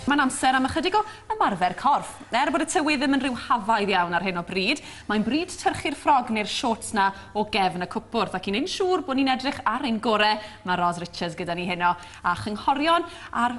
Mae'n amser am ychydig o ymarfer corff. Er bod y tywydd ddim yn rhyw hafaidd iawn ar hyn o bryd, mae'n bryd tyrchu'r ffrog neu'r shorts 'na o gefn y cwpwrdd, ac i wneud yn siŵr bod ni'n edrych ar ein gore, mae Ros Richards gyda ni heno, a chynghorion ar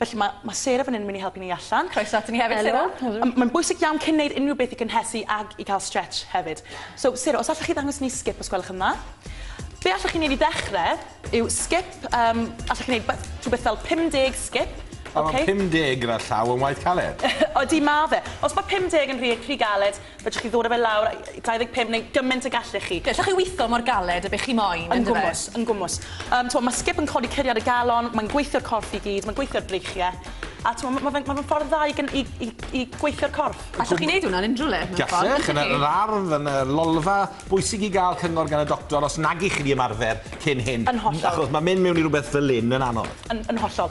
Felly mae, mae Sarah fan hyn yn mynd i helpu ni allan. Croeso ato ni hefyd, Sarah. Helo, helo. Mae'n bwysig iawn cyn wneud unrhyw beth i gynhesu ag i cael stretch hefyd. So, Sarah, os allwch chi ddangos ni skip os gwelwch yn dda. Be allwch chi wneud i ddechrau yw skip, um, allwch chi wneud rhywbeth fel 50 skip. Mae okay. 50 gyda llaw yn waith caled. Odi, mae fe. Os mae 50 yn rhy, rhy galed, Fedrwch chi ddod a fe lawr a- yy 25 neu gyment y gallech chi. Gallwch chi witho mor galed a be chi moyn, yndyfe? Yn gwmws, yn gwmws. Yym, t'mo', ma' Skip yn codi curiad y galon, mae'n gweithio'r corff i gyd, mae'n gweithio'r breichie, a t'mo' ma' ma' fe'n ma' fe'n ffordd dda i gyn- i i i gweithio'r corff. Allwch chi neud hwn ar unrhyw le, mewn ffordd, yndychi? Gallech, yn yr ardd, yn y lolfa. Bwysig i ga'l cyngor gan y doctor os nag 'ych chi 'di ymarfer cyn hyn. Yn hollol. Achos ma' mynd mewn i rwbeth fel 'yn yn anodd. Yn yn hollol.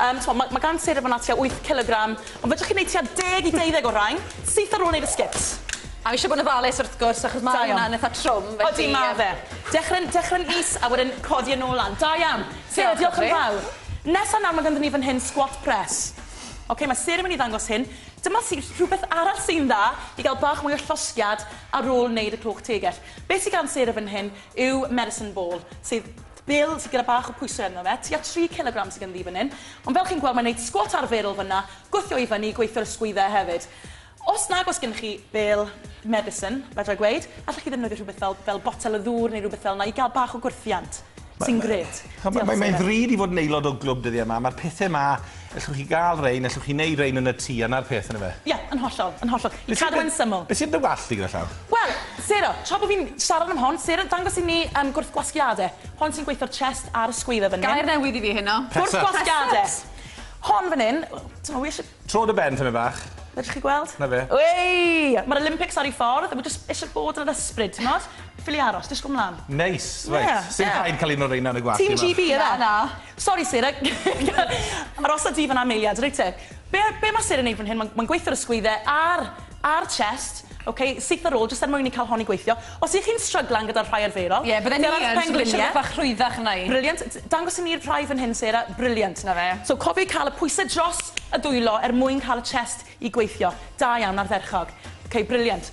Yym, t'mo', ma' ma' gan Sarah fana tua wyth cilogram, ond fedrwch chi neud tua deg i deuddeg o rain, syth ar ôl neud y sgit. A ishe bod yn ofalus wrth gwrs achos ma' Da iawn. hwnna'n itha trwm felly Odi ma' fe. Dechre'n dechre'n is a wedyn codi e nôl lan. Da iawn. Sarah, Diolch diolch yn fawr. Nesa nawr ma' ganddon ni fan hyn squat press. Oce ma' Sarah myn' i ddangos hyn. Dyma sy- rhwbeth arall sy'n dda i ga'l bach mwy o llosgiad ar ôl neud y clôch tegell. Be' sy gan Sarah fan hyn yw medicine ball sydd Bill sy gyda bach o pwyse arno fe, tua tri cilogram sy ganddi fan hyn, ond fel chi'n gweld mae'n neud sgwat arferol fanna, gwthio i fyny, gweithio'r ysgwydde hefyd. Os nag oes gennych chi Bill medicine, fedra i gweud, allech chi ddefnyddio rhywbeth fel fel botel o ddŵr neu rywbeth fel 'na i ga'l bach o gwrthiant, sy'n grêt. Diolch Seren. Mae'n ddrud i fod yn aelod o glwb dyddie 'ma, ma'r pethe 'ma Ellwch chi gael rain, ellwch chi neud rain yn y tŷ a 'na'r peth yndyfe? Ie, yn hollol, yn hollol. I cadw e'n syml. Be sy'n dy wallt di gyda llaw? Wel, Sarah, tra bo fi'n siarad am hon, Sarah, dangos i ni yym gwrthgwasgiade. Hon sy'n gweithio'r chest a'r ysgwydde fan hyn. Gair newydd i fi heno. Gwrthgwasgiade. Hon fan hyn, t'mo' wi isie... Tro dy ben tymed bach. Fedrwch chi gweld? 'Na fe. Wei! Ma'r Olympics ar 'u ffordd a wi jyst isie bod yn yr ysbryd, t'mod? Ffili aros, dishgwl mlan. Neis, reit. Ie, ie. Sim rhaid ca'l un o reina yn y gwallt. Team GB yfe? Na, na. Sori Syr, arosa di fan'na am eiliad, reit te. Be, be mae Syr yn neud fan hyn, mae'n mae gweithio'r ysgwydde a'r, a'r chest, ok, syth ar ôl, jyst er mwyn i cael hon i gweithio. Os ych chi'n stryglan gyda'r rhai arferol... Ie, bydden i yn, so bod siwrne bach rhwyddach yna i. Brilliant, dangos i ni'r rhai fan hyn Sarah, brilliant. Na fe. So cofiwch cael y pwysau dros y dwylo er mwyn cael y chest i gweithio. Da iawn, ardderchog. Ok, brilliant.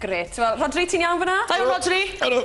Grêt. Wel, Rhodri, ti'n iawn fan'na? Da iawn, Rhodri. Helo.